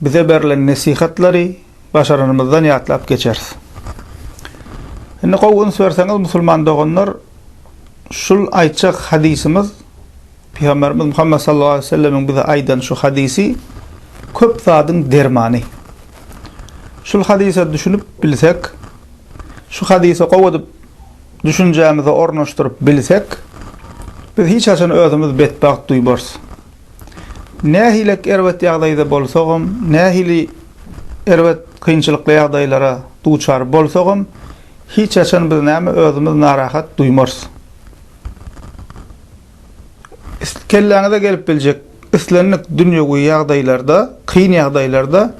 Bize berlen nesihatlary başaranymyzdan ýatlap geçeris. Indi gowy üns berseňiz musulman doganlar şul aýtjak hadysymyz Pygamberimiz Muhammet sallallahu aleýhi we sellemiň bize aýdan şu hadysy köp zadyň dermany. Şul hadysa düşünip bilsek, şu hadysy gowy edip düşünjämize ornaşdyryp bilsek, biz hiç haçan özümiz betbagt duýmarys. Nähilek erbet ýagdaýda bolsagam, nähili erbet, kynçylykly ýagdaýlara duçar bolsagam, hiç haçan biz näme özümiz narahat duýmarys. Kelläňize gelip biljek islendik dünýewi ýagdaýlarda, kyn ýagdaýlarda,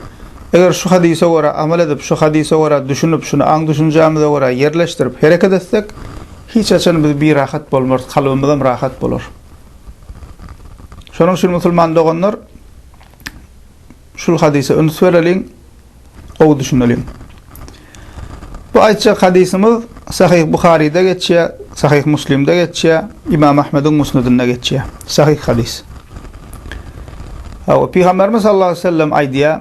eger şu hadysa görä amal edip, şu hadysa görä düşünip, şuny aň-düşünjämize görä ýerleşdirip hereket etsek, hiç haçan biz birahat bolmarys, kalbymyzam rahat bolar. Şonuň üçin musulman doganlar şul hadysa üns bereliň, gowy düşüneliň. Bu aýtjak hadysymyz Sahyh Buharyda geçýär, Sahyh Muslimde geçýär, Ymam Ahmediň Musnedinde geçýär. Sahyh hadys. Hawa, Pygamberimiz sallallahu aleyhi ve sellem aýdýar,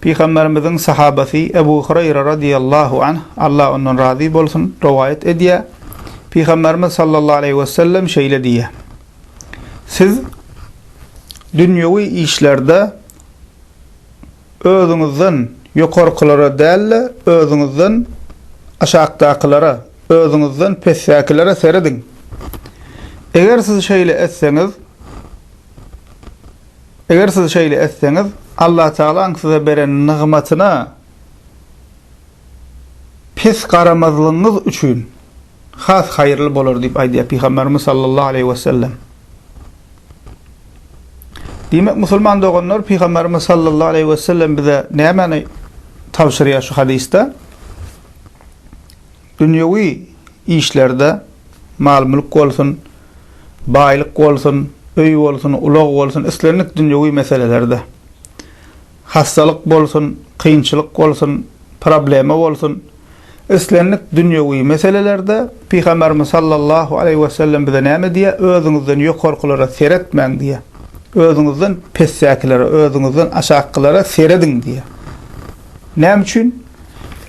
Pygamberimiziň sahabasy Ebu Hureýre radyýallahu anh, Allah ondan razy bolsun, rowaýat edýär, Pygamberimiz sallallahu aleýhi wesellem şeýle diýýär, Siz dünýewi işlerde özüňizden ýokarkylara däl-de, özüňizden aşakdakylara, özüňizden pesdäkilere serediň. Eger siz şeýle etseňiz, Eger siz şeýle etseňiz, Allatagalaň size beren nygmatyna pes garamazlygyňyz üçin has haýyrly bolar diýip aýdýar Pygamberimiz sallallahu aleýhi wesellem. Diýmek, musulman doganlar Pygamberimiz sallallahu aleýhi wesellem bize nämäni tabşyrýar şu hadysda? Dünýewi işlerde, mal-mülk bolsun, baýlyk bolsun, öý bolsun, ulag bolsun, islendik dünýewi meselelerde, hassalyk bolsun, kynçylyk bolsun, problema bolsun, islendik dünýewi meselelerde Pygamberimiz sallallahu aleýhi wesellem bize näme diýýär, Özüňizden ýokarkylara seretmäň diýýär. Özüňizden pesdäkilere, özüňizden aşakkylara serediň diýýär. Näme üçin?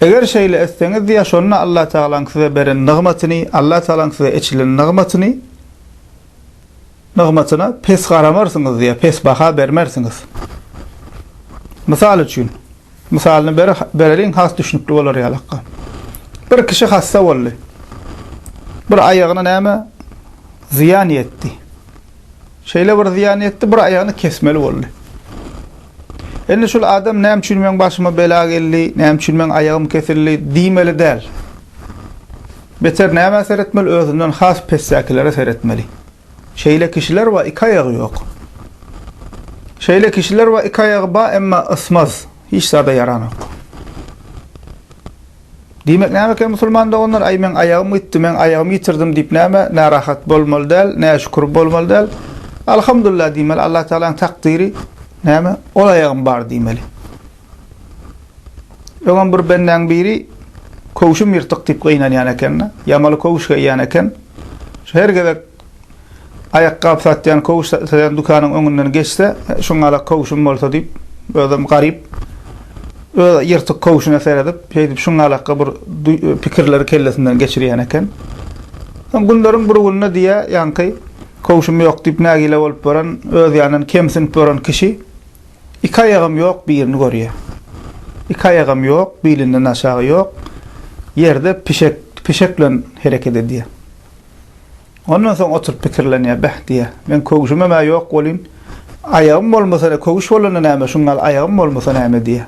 Eger şeýle etseňiz diýýär, şonda Allatagalaň size beren nygmatyny, Allatagalaň size eçilen nygmatyny, nygmatyna pes garamarsyňyz diýýär, pes baha bermersiňiz. Mysal üçin, mysalyny bereliň has düşnükli bolar ýalakka. Bir kişi hassa boldy. Bir aýagyna näme zyýan ýetdi. Şeýle bir zyýan ýetdi, bir aýagyny kesmeli boldy. Indi şul adam näme üçin meň başyma bela geldi, näme üçin meň aýagym kesildi diýmeli däl. Beter nämä seretmeli, özünden has pesdäkilere seretmeli. Şeýle kişiler bar, iki aýagy ýok. Şeýle kişiler bar, iki aýagy bar, emma ysmaz, hiç zada ýaranok. Diýmek näme eken musulman doganlar, aý meň aýagym gitdi, meň aýagymy ýitirdim diýip näme, närahat bolmaly däl, näşükür bolmaly däl. Alhamdulillah diýmeli, Allah Tagalaň takdyry näme, ol aýagym bar diýmeli. Öňem bir bendäň biri köwşüm ýyrtyk diýip gynanýan eken-de, ýamaly köwüş geýýän eken. Şu her gezek Aýakgap satýan, köwüş satýan dükanyň öňünden geçse, Şuňala köwşüm bolsa diýip, özem garyp, öz ýyrtyk köwşüne seredip, şeýdip şuňalaka bir pikirleri kellesinden geçirýän eken. Soň günleriň bir gününe diýýä, ýaňky köwşüm ýok diýip nägile bolup ýören, öz ýanyndan kemsinip ýören kişi iki aýagam ýok birini görýä. Iki aýagam ýok, bilinden aşagy ýok, ýerde pişek, pişek bilen hereket edýä. Ondan soň oturyp pikirlenýär, Beh, diýýär, men köwşümem-ä ýok bolyn, aýagym bolmasa-da, köwüş bolanda näme, şuň ýaly aýagym bolmasa näme diýýär.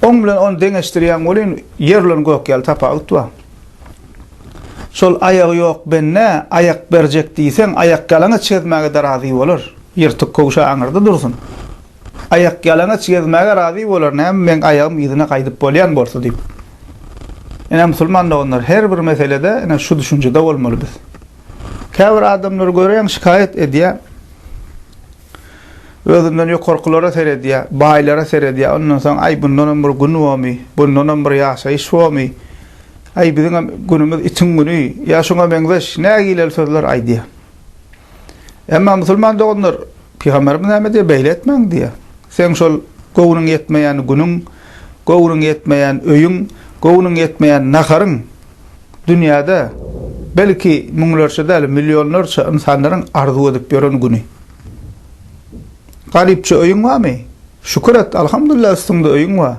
Oň bilen ony deňeşdirýän welin, ýer bilen gök ýaly tapawut bar. Şol aýagy ýok bende aýak berjek diýseň, aýakýalaňaç gezmäge-de razy bolar. Ýyrtyk köwşä aňyrda dursun. Aýakýalaňaç gezmäge razy bolar, näme, meň aýagym yzyna gaýdyp bolýan bolsa diýip. Ine musulman doganlar her bir meselede ine şu düşünjede bolmaly biz. Käbir adamlar göreň şikaýat edýär. Özünden ýokarkylara seredýär, baýlara seredýär. Ondan soň aý bundan hem bir gün bormy? Bundan hem bir ýaşaýyş bormy? Aý biziň hem günümiz itiň güni. Ýa şuňa meňzeş nägileli sözler aýdýar. Emma musulman doganlar Pygamberimiz näme diýýär, beýle etmäň diýýär. Seň şol göwnüň ýetmeýän günüň, göwnüň ýetmeýän öýüň, göwnüň ýetmeýän naharyň dünýäde belki müňlerçe däl, millionlarça ynsanlaryň arzuw edip ýören güni. Garypja öýüň barmy? Şükür et, alhamdulillah üstüňde öýüň bar.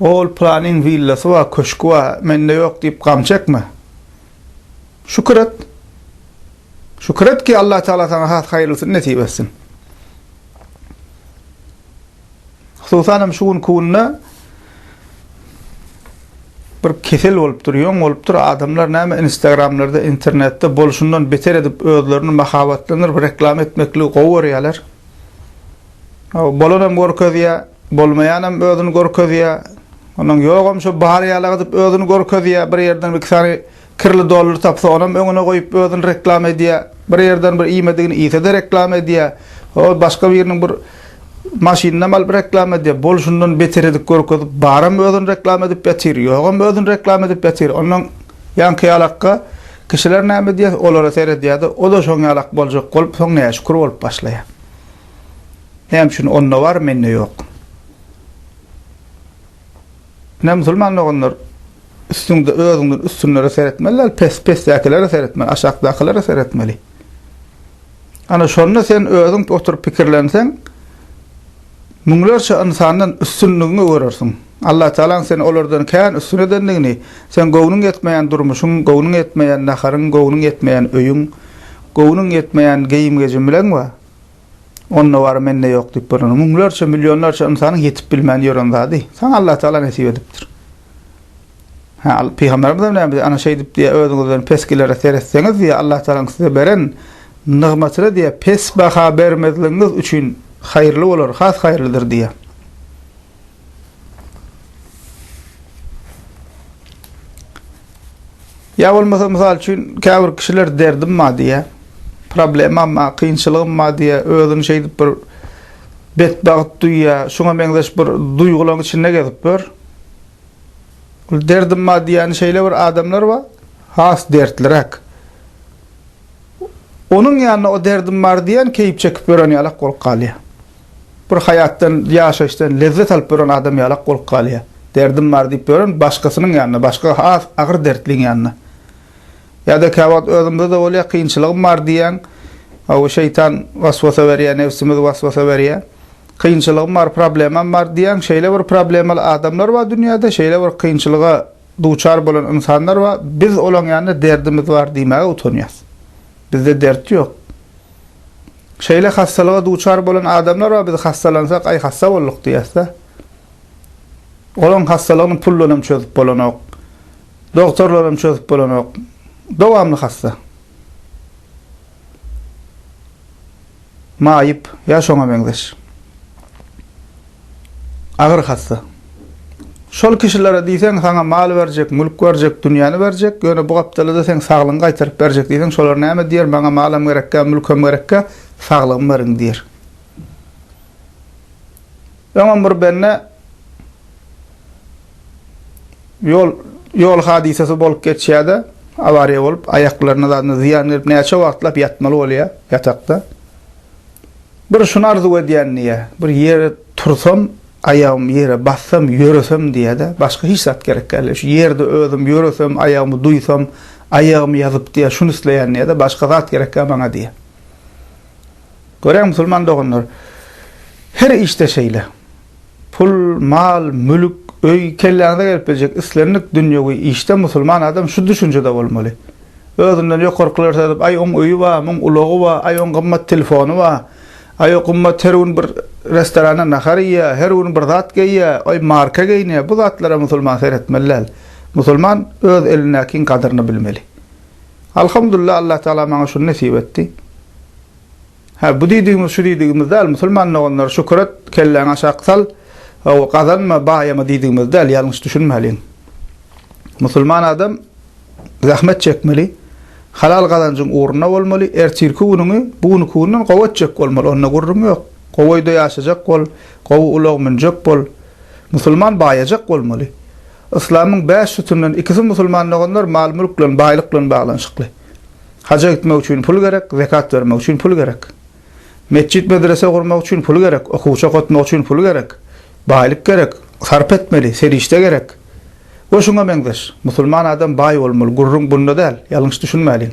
Ol pylanyň willasy bar, köşgi bar, mende ýok diýip gam çekme. Şükür et. Şükür et ki, Allah Teala saňa has haýyrlysyny nesip etsin. Hususan hem şu günki günde bir kesel bolupdyr, ýoň bolupdyr. Adamlar näme Instagramlarda, internetde bolşundan beter edip özlerini mahabatlandyryp reklama etmekligi gowy görýärler. Bolan hem görkezýär. Bolmaýanam özüni görkezýär. Onuň ýogam şo bar ýalygydyp özüni görkezýär. Bir ýerden iki sany kirli dollar tapsa, onam öňüne goýup özüni reklama edýär. Bir ýerden bir iýmedigini iýse-de reklama edýär. Ol başga biriniň bir maşynynam alyp reklama edýär. Bolşundan beter edip görkezip, baram özüni reklama edip ýatyr, ýogam özüni reklama edip ýatyr. Ondan ýaňky ýalakka kişiler näme diýer, olara seredýär-de, o-da şoň ýalak boljak bolup, soň näşükür bolup başlaýar. Näme üçin onda bar, mende ýok? Ine, musulman doganlar, üstüňde özüňden üstünlere seretmeli däl, pes-pesdäkilere seretmeli, aşakdakylere seretmeli. Ana, şonda sen özüň oturyp pikirlenseň, müňlerçe ynsandan üstünligiňi görersiň. Allatagalaň seni olardan kän üstün edendigini, seň göwnüň ýetmeýän durmuşyň, göwnüň ýetmeýän naharyň, göwnüň ýetmeýän öýüň, göwnüň ýetmeýän geýim-gejimileň bar. Onda bar, mende ýok diýip bolmaz. Müňlerçe, millionlarça ynsanyň ýetip bilmän ýören zady saňa Allatagala nesip edipdir. Ha, pygamberimiz hem näme diýýär? Ana şeýdip diýýär, özüňizden pesgilere seretseňiz diýýär, Allatagalaň size beren nygmatyna diýýär, pes baha bermezligiňiz üçin haýyrly bolar, has haýyrlydyr diýýär. Ýa bolmasa, mysal üçin, käbir kişiler derdim bar diýýär, problemam bar, kynçylygym bar diýýär, özüni şeýdip bir betbagt duýýar, şuňa meňzeş bir duýgularyň içinde gezip ýör. Ol derdim bar diýýäni şeýle bir adamlar bar, has dertliräk. Onuň ýanyna o derdim bar diýýän keýp çekip ýören ýalak bolup galýar. Bir haýatdan, ýaşaýyşdan lezzet alyp ýören adam ýalak bolup galýar. Derdim bar diýip ýören başgasynyň ýanynda, başga has agyr dertliň ýanynda. Ýa-da käwagt özümizde-de bolýar, kynçylygym bar diýýäň. Hawa, şeýtan waswasa berýär, nebsimiz waswasa berýär. Kynçylygym bar, problemam bar diýýäň. Şeýle bir problemaly adamlar bar dünýäde, şeýle bir kynçylyga duçar bolan ynsanlar bar, biz olaň ýanynda derdimiz bar diýmäge utanýarys. Bizde dert ýok. Şeýle hassalyga duçar bolan adamlar bar, biz hassalansak, aý hassa bolduk diýýäs-dä. Olaň hassalygyny pul bilen hem çözüp bolanok. Dogtorlar hem çözüp bolanok. Dowamly hassa. Maýyp ýa şoňa meňzeş agyr hassa. Şol kişilere diýseň, saňa mal berjek, mülk berjek, dünýäni berjek, ýöne bu gapdala-da seň saglygyňy gaýtaryp berjek diýseň, şolar näme diýer, maňa malam gerekkä, mülkem gerekkä, saglygymy beriň diýer. Öňem bir bende ýol ýol hadysasy bolup geçýärdi. Awariýa bolup, aýaklaryna zadyna zyýan gelip, näçe wagtlap ýatmaly bolýar ýatakda. Bir şuny arzuw edýän diýýär. Bir ýere tursam, aýagym ýere bassam, ýöresem diýýär-de, başga hiç zat gerek däldi. Şu ýerde özüm ýöresem, aýagymy duýsam, aýagymy ýazyp diýýär, şuny isleýän diýýär-de, başga zat gerek däl maňa diýýär. Görä musulman doganlar, her işde şeýle. Pul, mal, mülk, öý, kelläňize gelip biljek islendik dünýewi işde musulman adam şu düşünjede bolmaly. Özünden ýokarkylary saýlap, aý oň öýi bar, muň ulagy bar, aý oň gymmat telefony bar, aý o gymmat her gün bir restoranda nahar iýýär, her gün bir zat geýýär, aý marka geýinýär, bu zatlara musulman seretmeli däl. Musulman öz elindäkiň gadyryny bilmeli. Alhamdulillah Allah Taala maňa şuny nesip etdi. Hä bu diýdigimiz şu diýdigimiz däl musulman doganlar şükür et kelläňi aşak sal ow gazanma baýama diýdigimiz däl ýalňyş düşünmäliň. Musulman adam zähmet çekmeli halal gazanjyň ugruna bolmaly ertirki günüňi bu günki günden gowy etjek bolmaly onda gürrüň ýok. Gowy öýde ýaşajak bol gowy ulag münjek bol musulman baýajak bolmaly. Yslamyň bäş sütünden ikisi musulman doganlar mal-mülk bilen, baýlyk bilen baglanyşykly. Haja gitmek üçin pul gerek, zekat bermek üçin pul gerek. Metjit-medrese gurmak üçin pul gerek, okuwçy okatmak üçin pul gerek. Baýlyk gerek, sarp etmeli, serişde gerek we şuňa meňzeş. Musulman adam baý bolmaly, gürrüň bunda däl, ýalňyş düşünmäliň.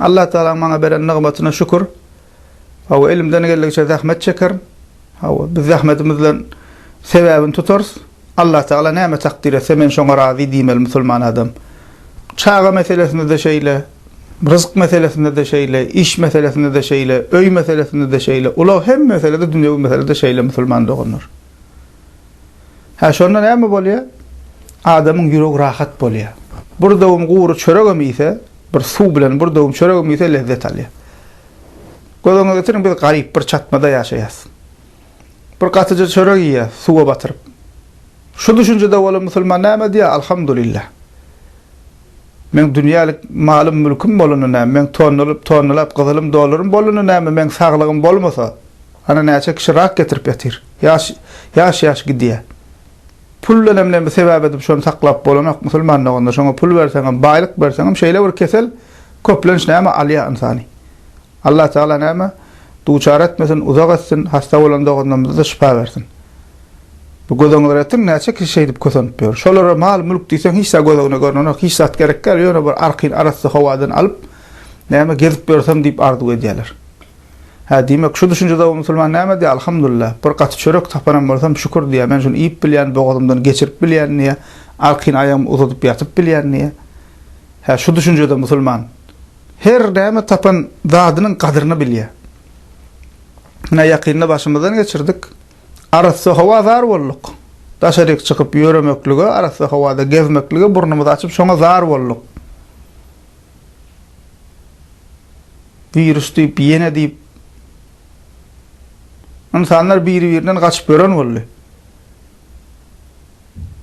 Allah Tagalaň maňa beren nygmatyna şükür. Hawa, elimden geldigiçe zähmet çekerin. Hawa, biz zähmetimiz bilen sebäbini tutarys. Allah Tagala näme takdyr etse, men şoňa razy diýmeli musulman adam. Çaga meselesinde-de şeýle, ryzyk meselesinde-de şeýle, iş meselesinde-de şeýle, öý meselesinde-de şeýle, ulag hemme meselede, dünýewi meselede şeýle musulman doganlar. Hä, şonda näme bolýar? Adamyň ýüregi rahat bolýar. Bir döwüm gury çöregem iýse, Bir suw bilen bir döwüm çöregim iýse lezzet alýar. Göz öňüňe getiriň, biz garyp, bir çatmada ýaşaýas. Bir gatyja çörek iýýäs, suwa batyryp. Şu düşünjede bolan musulman näme diýýär, Alhamdulillah. Meň dünýälik malym, mülküm bolanda näme, meň tonnalyp, tonnalap gyzylym, dollarym bolanda näme, meň saglygym bolmasa, ana näçe kişi rak getirip ýatyr. Ýaş, ýaş-ýaş gidýär. Pul denem ne sebäp edip şony saklap bolanok musulman doganda şoňa pul berseňem baýlyk berseňem şeýle bir kesel köplenç näme alýa ynsany Allah tagala näme duçar etmesin uzak etsin hassa bolan doganlarymyzada şypa bersin bu göz öňüne getirdiň näçe kişi şeýdip kösenip ýör şolara mal mülk diýseň hiç zat göz öňüne görnenok hiç zat gerek däl ýöne bir arkyn arassa howadan alyp näme gezip ýörsem diýip arzuw edýäler. Hä, diýmek, şu düşünje dagy musulman näme diýýär, Alhamdulillah, bir gaty çörek tapanam bolsam, şükür diýýär, men şuny iýip bilýän, bogazymdan geçirip bilýän diýýär, arkin aýagymy uzadyp ýatyp bilýän diýýär. Hä, şu düşünjede musulman her näme tapan zadynyň gadyryny bilýär. Ine, ýakynda başymyzdan geçirdik. Arassa howa zar bolduk. Daşaryk çykyp ýöremeklige, arassa howada gezmeklige burnumyzy açyp, şoňa zar bolduk. Wirus diýip, ýene diýip, ynsanlar biri-birinden gaçyp ýören boldy.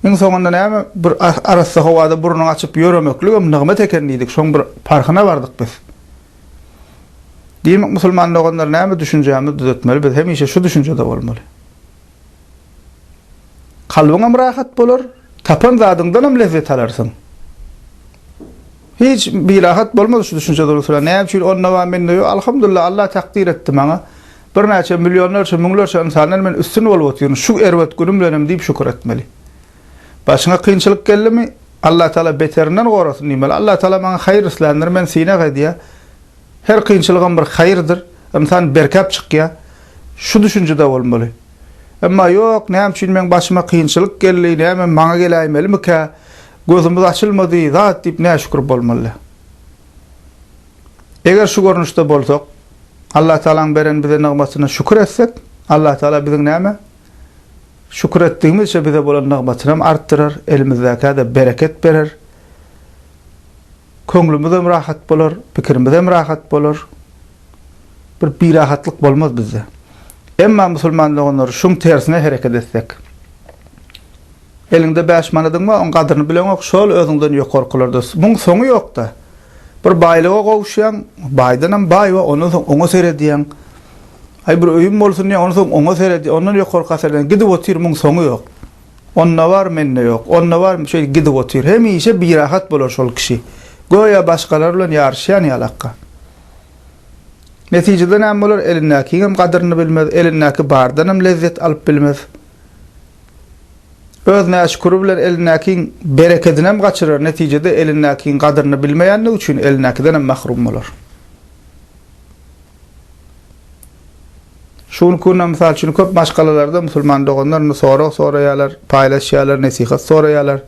Iň soňunda näme, bir arassa howada burnuňy açyp ýöremekligem nygmat eken diýdik, şoň bir parhyna bardyk biz. Diýmek, musulman doganlar, näme düşünjämizi düzetmeli, biz hemişe şu düşünjede bolmaly. Kalbyňam rahat bolar, tapan zadyňdanam lezzet alarsyň. Hiç birahat bolmaz şu düşünje durusuna. Näme üçin onda bar, mende ýok? Alhamdulillah, Alla takdyr etdi maňa. Birnäçe millionlarça, müňlerçe ynsandan men üstün bolup otyryn, şu erbet günüm bilenem diýip şükür etmeli. Başyňa kynçylyk geldimi, Allatagala beterinden gorasyn diýmeli. Allatagala maňa haýyr isländir, men synag edýär. Her kynçylygam bir haýyrdyr, ynsan berkäp çykýar. Şu düşünjede bolmaly. Emma ýok, näme üçin meň başyma kynçylyk geldi, nämem maňa geläýmelimikä, gözümiz açylmady, zat diýip näşükür bolmaly. Eger şu görnüşde bolsak, Allatagalaň beren bize nygmatyna şükür etsek, Allatagala biziň näme? Şükür etdigimizçe bize bolan nygmatynam artdyrar, elimizdäkä-de bereket berer. Köňlümizem rahat bolar, pikirimizem rahat bolar. Bir birahatlyk bolmaz bizde. Emma musulman doganlar şuň tersine hereket etsek. Eliňde bäş manadyň bar, oň gadyryny bileňok, şol özüňden ýokarkylarda. Muň soňy ýokda. Bir baýlyga gowuşýaň, baýdanam baý we ondan soň oňa seredýäň. Aý bir öýüm bolsun diýýäň, ondan soň oňa seredýäň, ondan ýokarka seredýäň, gidip otyr, muň soňy ýok. Onda bar, mende ýok. Onda bar, şeýdip gidip otyr. Hemişe birahat bolar şol kişi. Göýä başgalar bilen ýaryşýan ýalakka. Netijede näme bolar? Elindäkiňem gadyryny bilmez, elindäki bardanam lezzet alyp bilmez. Öz näşüküri bilen elindäkiň berekedinem gaçyrar, netijede elindäkiň gadyryny bilmeýänligi üçin elindäkidenem mahrum bolar. Şu günki günde, mysal üçin, köp maşgalalarda musulman doganlar indi sorag soraýarlar, paýlaşýarlar, nesihat soraýarlar.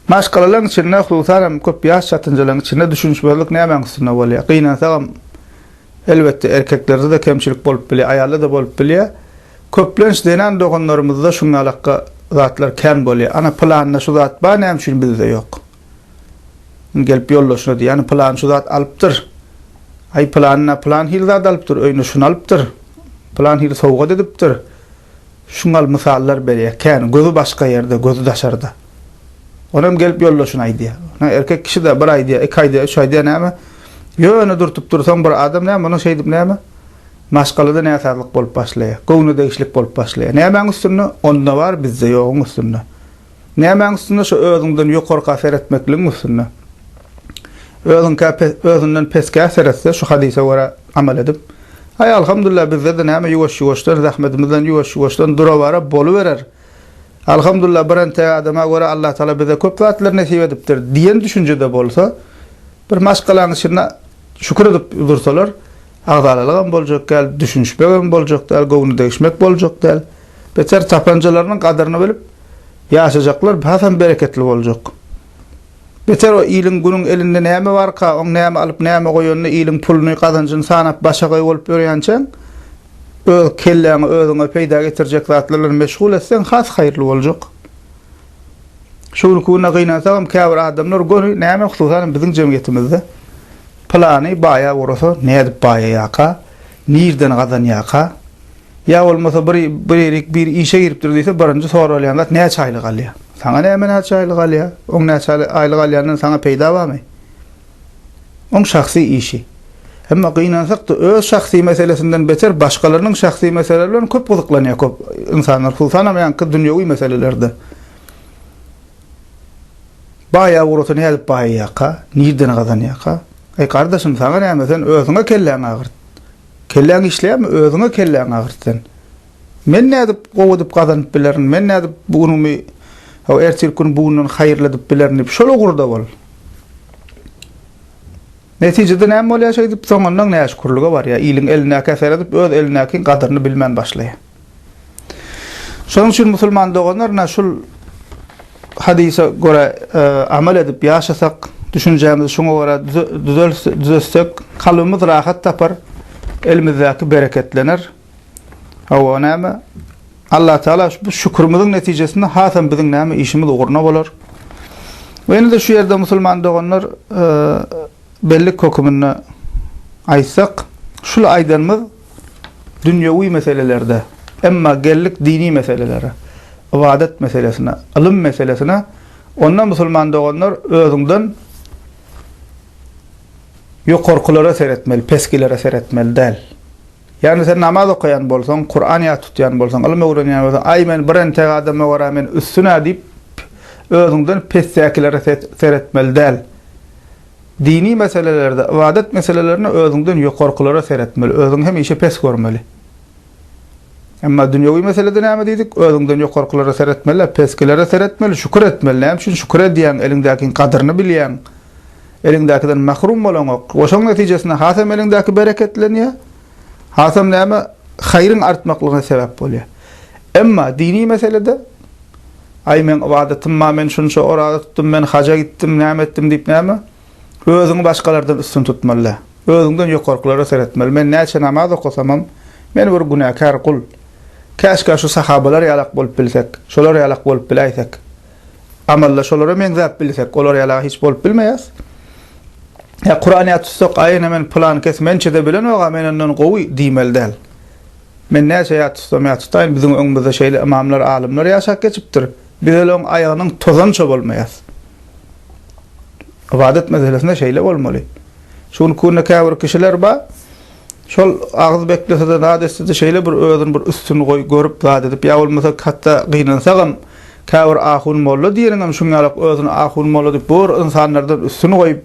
Maşgalalaryň içinde, hususan hem, köp ýaş çatynjalaryň içinde düşünişmezlik nämäň üstünde bolýar? Gynansagam, elbetde, erkeklerde-de kemçilik bolup bilýär, aýalda-da bolup bilýär. Köplenç zenan doganlarymyzda şuňňalakga zatlar kän bolýar. Ana, pylanda şu zat bar, näme üçin bizde ýok? Indi gelip ýoldaşyna diýýär, Pylany şu zat alypdyr. Aý, pylany-na pylan hili zat alypdyr, öýüne şuny alypdyr, pylan hili sowgat edipdir. Şuň ýaly mysallar berýär. Kän, gözi başga ýerde, gözi daşarda. Onam gelip ýoldaşyna aýdýar. Ine, erkek kişi-de bir aýdýar, iki aýdýar, üç aýdýar, näme? Ýöne durtup dursaň bir adam näme muny şeýdip näme? Maşgalada näsazlyk bolup başlaýar. Göwne degişlik bolup başlaýar. Nämäň üstünde? Onda bar, bizde ýoguň üstünde. Nämäň üstünde şo özüňden ýokarka seretmekligiň üstünde. Özüňkä özünden peskä seretse şu hadysa görä amal edip. Aý alhamdullah bizdede näme ýuwaş ýuwaşdan zähmedimizden ýuwaş ýuwaşdan durawara boluberer. Alhamdullah bir entek adama görä Allah taala bize köp zatlar nesip edipdir diýen düşünjede bolsa bir maşgalaň içinde şükür edip dursalar agzalylygam boljak däl düşünişmegem boljak däl göwni degişmek boljak däl. Beter tapanjalarynyň gadyryny bilip ýaşajaklar hasam bereketli boljak. Beter o iliň günüň elinde näme barka, oň näme alyp näme goýanyny iliň puluny, gazanjyny sanap başa gaý bolup ýörýänçäň, öz kelläňi özüňe peýda getirjek zatlar bilen meşgul etseň has haýyrly boljak. Şu günki günde gynansagam käbir adamlar göni näme hususanam biziň jemgyýetimizde pylany baýa ugrasa nädip baýaýaka, nirden gazanýaka, Ýa bolmasa bir birik bir işe giripdir diýse birinji soralýan zat näçe aýlyk alýar? Saňa näme näçe aýlyk alýar? Oň näçe aýlyk alýandan saňa peýda barmy? Oň şahsy işi. Emma gynansak-da öz şahsy meselesinden beter başgalarynyň şahsy meseleleri bilen köp gyzyklanýar köp ynsanlar hususanam ýaňky dünýewi meselelerde. Baýa ugrasa nädip baýaýarka? Nirden gazanýarka? Eý gardaşym saňa näme sen özüňe kelläňi agyrt. Kelläň işleýärmi, özüňe kelläňi agyrt sen. Men nädip gowy edip gazanyp bilerin, men nädip bu günümi ho ertirki gün bugundan haýyrly edip bilerin diýip şol ugurda bol. Netijede näme bolýar şeýdip, soňundan näşükürlige barýar, iliň elindäki eseri edip öz elindäkiň gadyryny bilmän başlaýar. Şonuň üçin musulman doganlar ine şul hadysa görä amal edip ýaşasak, düşünjämizi şuňa görä düzelsek, kalbymyz rahat tapar, elimizdäki bereketlener. Hawa näme? Allatagala bu şükürimiziň netijesinde hasam biziň näme işimiz ugruna bolar. We indi şu ýerde musulman doganlar Bellik höküminde aýtsak, şul aýdanymyz dünýewi meselelerde, emma geldik dini meselelere, ybadat meselesine, ylym meselesine, onda musulman doganlar özüňden ýokarkylara seretmeli, pesgilere seretmeli däl. Ýagny sen namaz okaýan bolsaň, Kuran ýat tutýan bolsaň, ylym öwrenýän bolsaň, aý men bir entek adama görä men üstün-ä diýip, özüňden pesdäkilere seretmeli däl. Dini meselelerde, ybadat meselelerinde özüňden ýokarkylara seretmeli, özüňi hemişe pes görmeli. Emma dünýewi meselede näme diýdik? Özüňden ýokarkylara seretmeli däl, peskilere seretmeli, şükür etmeli. Näme üçin? Şükür edýäň, eliňdäkiň gadyryny bilýäň. Eliňdäkiden mahrum bolaňok. We şoň netijesinde hasam eliňdäki bereketlenýär, hasam näme, haýryň artmaklygyna sebäp bolýar. Emma dini meselede, Aý, meň ybadatym bar, men şunça oraza tutdum, men haja gitdim, näme etdim diýip näme, özüňi başgalardan üstün tutmaly däl. Özüňden ýokarkylara seretmeli. Men näçe namaz okasamam, men bir günäkär gul. Käşkä şu sahabalar ýalak bolup bilsek, şolar ýalak bolup biläýsek. Amalla şolara meňzäp bilsek, olar ýala hiç bolup bilmeýäs. Ýa Kuran ýat tutsak, aý ene men pylankes mençede bilenok-a men ondan gowy diýmeli däl. Men näçe ýat tutsam ýat tutaýyn, biziň öňümizde şeýle ymamlar, alymlar ýaşap geçipdir. Biz olaň aýagynyň tozança bolmaýas. Ybadat meselesinde şeýle bolmaly. Şu günki günde käbir kişiler bar. Şol agyz beklese-de zat etse-de şeýle bir özüni bir üstün goý görüp zat edip ýa bolmasa hatda gynansagam käbir ahun molla diýeniňem şuň ýalak özüni ahun molla diýip bu bir ynsanlardan üstün goýup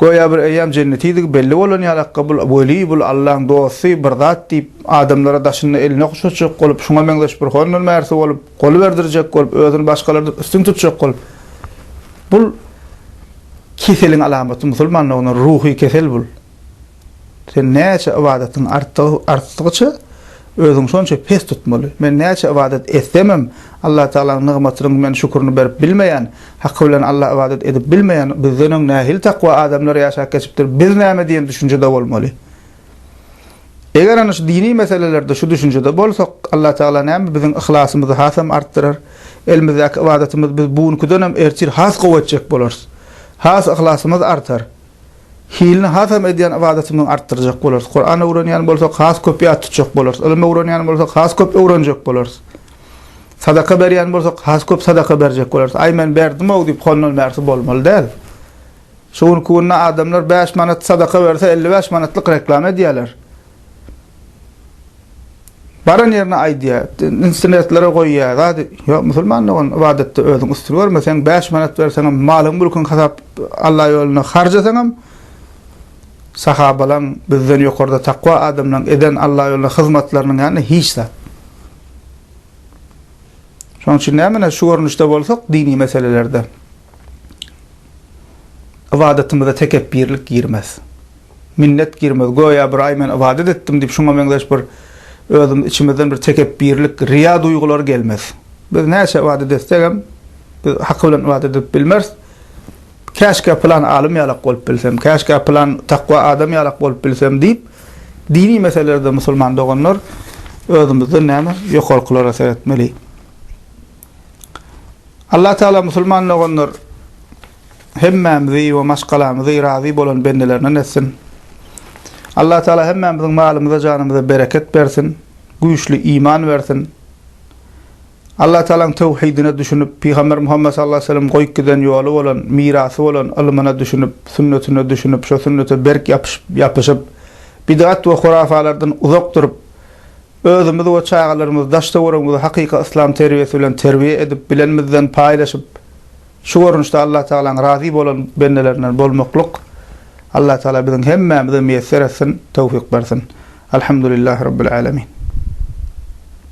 göýä bir eýýam jennetidigi belli bolan ýalakka bul weli bul Allaň dosty bir zat diýip adamlara daşynda elini okşatjak bolup şuňa meňzeş bir hondan märsi bolup gol berdirjek bolup özüni başgalardan üstün tutjak bolup bul keseliň alamaty musulmanlygyna ruhy kesel bul. Sen näçe ybadatyň artdygyça, özüňi şonça pes tutmaly. Men näçe ybadat etsemem, Allatagalanyň nygmatynyň men şükürini berip bilmeýän, haky bilen Alla ybadat edip bilmeýän, bizden öň nähili takwa adamlar ýaşap geçipdir, biz näme diýen düşünjede bolmaly. Eger ana şu dini meselelerde şu düşünjede bolsak, Allatagala näme biziň yhlasymyzy hasam artdyrar, elimizdäki ybadatymyzy biz bu günkidenem ertir has gowy etjek bolarys. Has yhlasymyz artar. Hilini hasam edýän ybadatymyzy artdyrjak bolarys. Kuran öwrenýän bolsak, has köp ýat tutjak bolarys. Ylym öwrenýän bolsak, has köp öwrenjek bolarys. Sadaka berýän bolsak, has köp sadaka berjek bolarys. Aý, men berdim-ow diýip, hondan bärsi bolmaly däl. Şu günki günde adamlar bäş manat sadaka berse, elli bäş manatlyk reklama edýärler. Baran ýerine aýdýa, instrumentlere goýýa, zat ýok musulmanda ol ybadatda özüň üstün görme, sen bäş manat berseňem, malyň mülküň hasap Alla ýolunda harjasaňam, sahabalaň bizden ýokarda takwa adamlaň eden Alla ýolunda hyzmatlarynyň ýanynda hiç zat. Şonuň üçin nämüne şu görnüşde bolsak dini meselelerde. Ybadatymyza tekepbirlik girmez. Minnet girmez. Göýä bir aý men ybadat etdim diýip şuňa meňzeş bir özümiz içimizden bir tekepbirlik, riýa duýgulary gelmez. Biz näçe ybadat etsegem biz haky bilen ybadat edip bilmeris. Käşgä pylan alym ýalak bolup bilsem, käşgä pylan takwa adam ýalak bolup bilsem diýip dini meselelerde musulman doganlar özümizden näme ýokarkylara seretmeli. Allah Taala musulman doganlar hemmämizi we maşgalamyzy razy bolan bendelerinden etsin. Allah Taala hemmämiziň malymyza janymyza bereket bersin, güýçli iman bersin. Allah Taalaň töwhidine düşünip, Pygamber Muhammet sallallahu aleyhi ve sellem goýup giden ýoly bolan, mirasy bolan ylmyna düşünip, sünnetine düşünip, şo sünnete berk ýapyşyp, bidgat we hurafalardan uzak durup, Özümiz we çagalarymyzy, daş-töweregimizi hakyky yslam terbiýesi bilen terbiýe edip, bilenimizden paýlaşyp, şu görnüşde Allatagalaň razy bolan bendelerinden bolmaklyk Allatagala biziň hemmämize miýesser etsin, töwfik bersin. Alhamdulillahi Rabbil Alemin.